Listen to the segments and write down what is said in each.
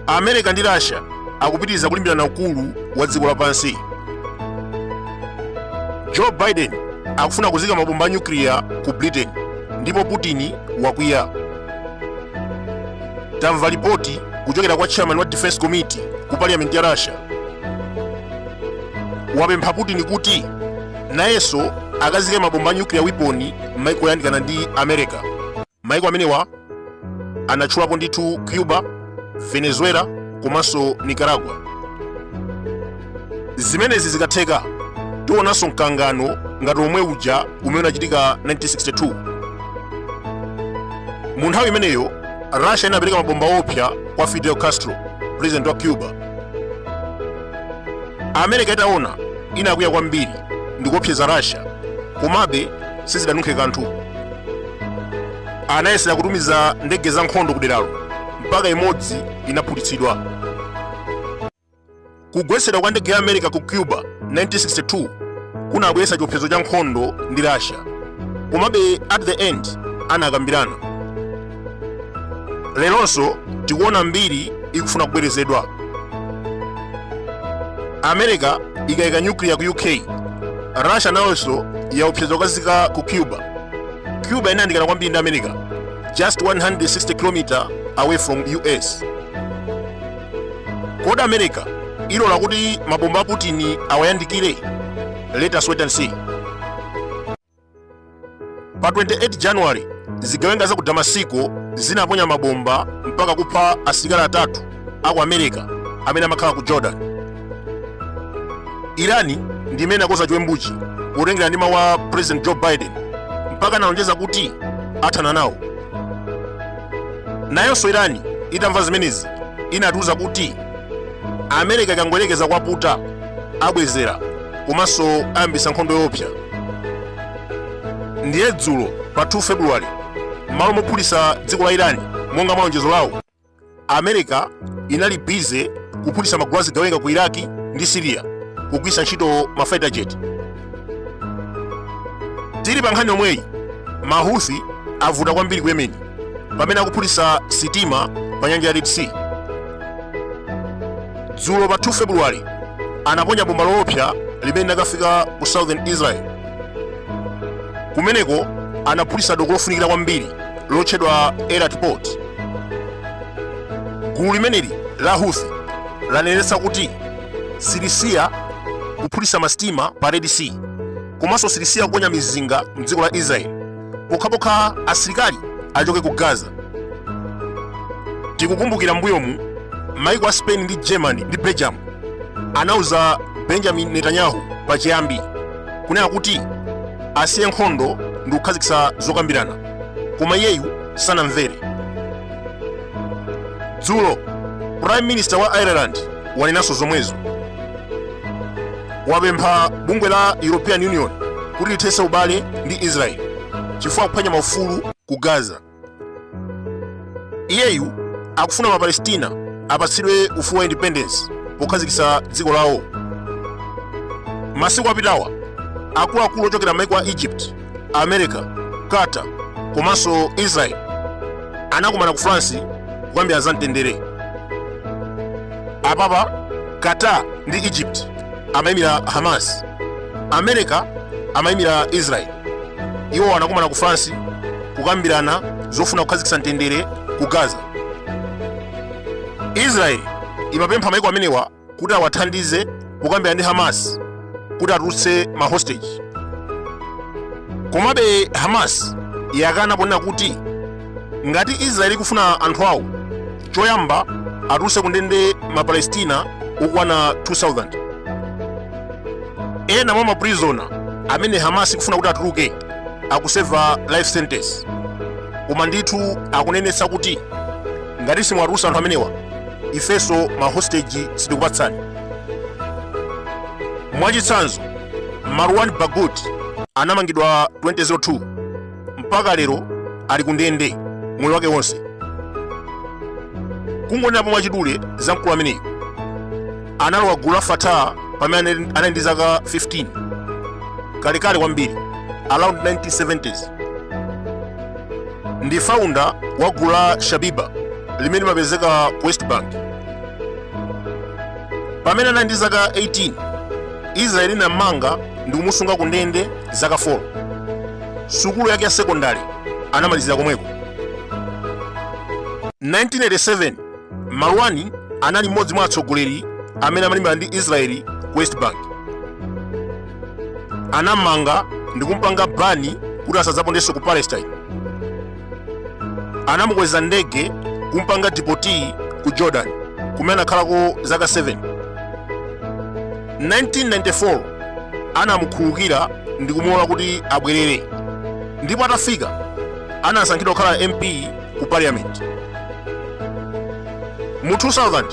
america ndi russia akupitiriza kulimbirana ukulu wa dziko lapansi joe biden akufuna kuzika mabomba a nyukliya ku britain ndipo putin wakwiya tamva lipoti kuchokera kwa chairman wa defense committee ku parliament ya russia wapempha putin kuti nayenso akazike mabomba a nuclear weapon m'maiko oyandikana ndi america maiko amenewa anatchulapo ndithu cuba venezuela komanso nicaragua zimenezi zikatheka tionanso mkangano ngati omwe uja umene unachitika 1962 mu nthawi imeneyo russia inapereka mabomba opsa kwa fidel castro president wa cuba america itaona inakwiya kwambiri ndikuopseza russia komabe sizidanunkhe kanthu anayesera kutumiza ndege za nkhondo kuderalo mpaka imodzi inaphulitsidwa kugwetsedwa kwa ndege ya america ku cuba 1962 kunabweretsa chiopsezo cha nkhondo ndi russia komabe at the end anakambirana leronso tikuona mbiri ikufuna kubwerezedwa america ikayika nyukliya ku uk russia nayonso yaopseza kukazika ku cuba cuba inayandikana kwambiri ndi america just 160 km away from us kodi america ilola kuti mabomba a putin awayandikire let us wait and see pa 28 january zigawenga za ku damasiko zinaponya mabomba mpaka kupha asilikali atatu a ku america amene amakhala ku jordan irani ndi imene akoza chiwembuchi potengera ndi mawu a president joe biden mpaka analonjeza kuti athana nawo nayonso irani itamva zimenezi inatiuza kuti america ikangoyerekeza kwaputa abwezera komanso ayambisa nkhondo yoopsa ndiye dzulo pa 2 february m'malo mophulisa dziko la irani monga mwa lonjezo lawo america inali bize kuphulisa magulu azigawenga ku iraki ndi siriya kugwisa ntchito ma fighter jet tili pa nkhani yomweyi mahuthi avuta kwambiri ku yemeni pamene akuphulitsa sitima pa nyanja ya Red Sea. Dzulo pa 2 February anaponya bomba loopsa limene linakafika ku Southern Israel. Kumeneko anaphulitsa doko lofunikira kwambiri lotchedwa Eilat Port. Gulu limeneli la Houthi lanenetsa kuti silisiya kuphulitsa masitima pa Red Sea komanso silisiya kuponya mizinga mdziko la Israel. pokhapokha asilikali achoke ku gaza tikukumbukira mbuyomu maiko a spain ndi germany ndi belgium anauza benjamin netanyahu pachiyambi kunena kuti asiye nkhondo ndi kukhazikitsa zokambirana koma iyeyu sanamvere dzulo prime minister wa ireland wanenanso zomwezo wapempha bungwe la European Union kuti lithetse ubale ndi Israel chifukwa akuphwanya maufulu ku Gaza. Iyeyu akufuna Mapalestina apatsidwe ufulu wa independence pokhazikitsa dziko lawo. Masiku apitawa akuluakulu ochokera maiko a Egypt america qatar komanso israel anakumana ku france kukambirana za mtendere apapa qatar ndi egypt amayimira hamas america amayimira israel iwo anakumana ku france kukambirana zofuna kukhazikitsa mtendere ku gaza israel imapempha maiko amenewa kuti awathandize kukambirana ndi hamas kuti atulutse ma hostage komabe hamas yakana ponena kuti ngati israeli ikufuna anthu awo choyamba atulutse kundende mapalestina okwana 2000 ena mwa maprizona amene hamas ikufuna kuti atuluke akuseva life sentence koma ndithu akunenetsa kuti ngati simwatulutsa anthu amenewa ifenso ma hostage sitikupatsani mwachitsanzo marwan barghouti anamangidwa 2002 mpaka lero ali kundende moyo wake wonse kungonenapo mwachidule za mkulu ameneyu analowa gulu la fatah pamene anali ndi zaka 15 kalekale kwambiri around 1970s ndi founder wa gulu la shabiba limene limapezeka ku west bank pamene anali ndi zaka 18 israeli inammanga ndi kumusunga ku ndende zaka 4 sukulu yake ya sekondari anamalizira komweko 1987 Marwani anali mmodzi mwa atsogoleri amene amalimbana ndi Israeli ku West Bank. Anammanga ndi kumpanga bani kuti asadzapondenso ku Palestine. Anamukweza ndege kumpanga dipoti ku Jordan kumene anakhalako zaka 7. 1994 anamukhululukira ndi kumulola kuti abwerere ndipo atafika anasankhidwa kukhala mp ku parliament mu 2000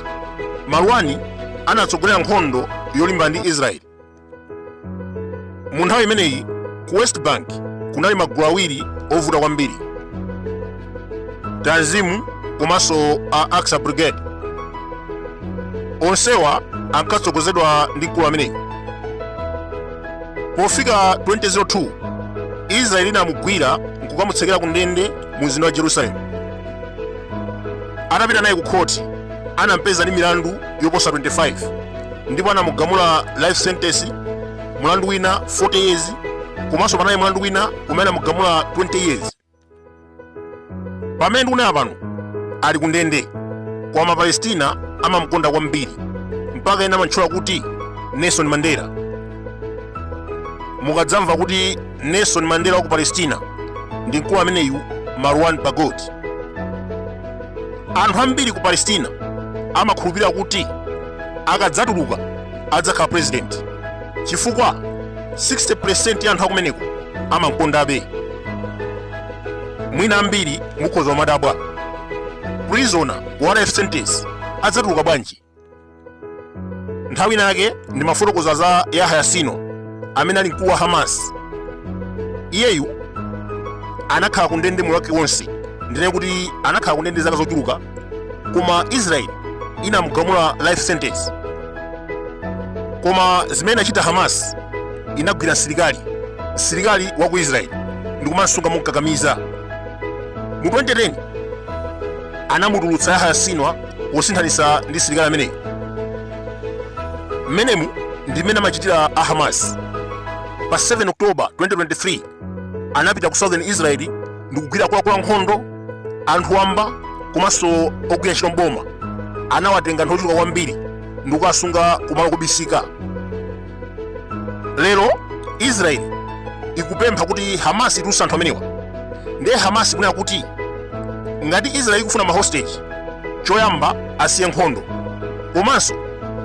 marwani anatsogolera nkhondo yolimbana ndi israeli mu nthawi imeneyi ku west bank kunali magulu awiri ovuta kwambiri tanzimu komanso Al Aqsa brigade onsewa ankatsogozedwa ndi mkulu ameneyu pofika 2002 israeli inamugwira nkukamutsekera ku ndende mu mzinda wa jerusalemu atapita naye ku khoti anampeza ndi milandu yoposa 25 ndipo anamugamula life sentence mulandu wina 40 years komanso panali mulandu wina umene anamugamula 20 years pamene ndikunena pano ali ku ndende koma mapalestina amamkonda kwambiri mpaka ena amantchula kuti nelson mandela mukadzamva kuti nelson mandela wa ku palestina ndi mkulu ameneyu marwan barghouti anthu ambiri ku palestina amakhulupirira kuti akadzatuluka adzakhala purezidenti chifukwa 60% ya anthu akumeneko amamkondabe mwina ambiri mukhoza kumadabwa prisoner wa life sentence adzatuluka bwanji nthawi inayake ndimafotokoza za yahya sinwar amene ali mkulu wa hamas iyeyu anakhala ku ndende moyo wake wonse ndinene kuti anakhala ku ndende zaka zochuluka koma israeli inamugamula life sentence koma zimene inachita hamas inagwira msilikali msilikali wa ku israeli ndikumamsunga momkakamiza mu 2010 anamutulutsa yahya sinwar posinthanitsa ndi msilikali ameneyu mmenemu ndi mmene amachitira a hamas pa 7 oktoba 2023 anapita ku southern israeli ndi kugwira akuluakulu ankhondo anthu wamba komanso ogwira ntchito mboma anawatenga anthu ochuluka kwambiri ndi kukawasunga kumalo kobisika lero israel ikupempha kuti hamas itulutse anthu amenewa ndiye hamas ikunena kuti ngati israel ikufuna ma hostage choyamba asiye nkhondo komanso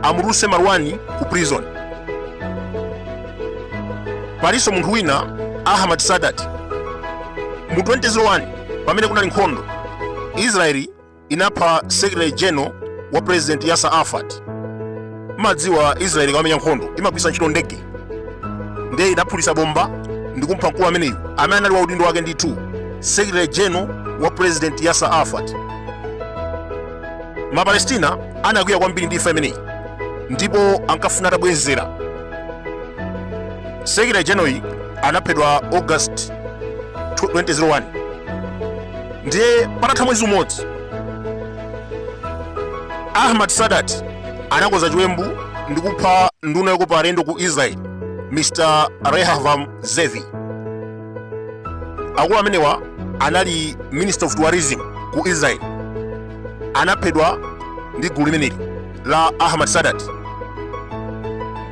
amutulutse marwani ku prison palinso munthu wina ahmad sadat mu 2001 pamene kunali nkhondo israeli inapha secretary general wa president yasser arafat madziwa israeli ikamamenya nkhondo imagwiritsa ntchito ndege ndiye inaphulitsa bomba ndikumpha mkulu ameneyu amene anali wa udindo wake ndithu secretary general wa president yasser arafat mapalestina anakwiya kwambiri ndi imfa imeneyi ndipo ankafuna atabwezera secretary generalyu anaphedwa august 2001 ndiye patatha mwezi umodzi ahmad sadat anakonza chiwembu ndi kupha nduna yokopa alendo ku israel mr rehavam zevi akulu amenewa anali minister of tourism ku israel anaphedwa ndi gulu limeneli la Ahmad Sadat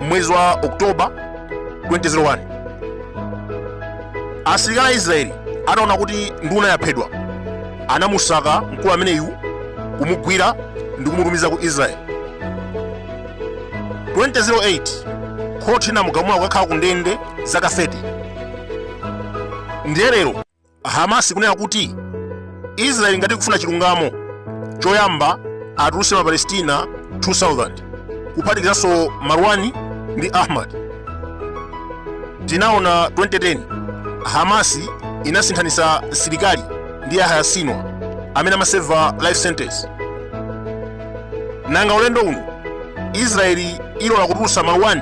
m'mwezi wa Oktoba 2001 asilikali a Israeli anaona kuti nduna yaphedwa anamusaka mkulu ameneyu kumugwira ndi kumutumiza ku Israel 2008 khoti linamugamula kukakhala ku ndende zaka 30 ndiye lero Hamas ikunena kuti Israel ngati ikufuna chilungamo choyamba atulutse ma Palestina 2000 kuphatikizanso Marwani ndi Ahmad. Tinaona 2010 Hamas inasinthanitsa msilikali ndi Yahya Sinwar amene amaseva life sentence. Nanga ulendo uno Israel ilola kutulutsa Marwani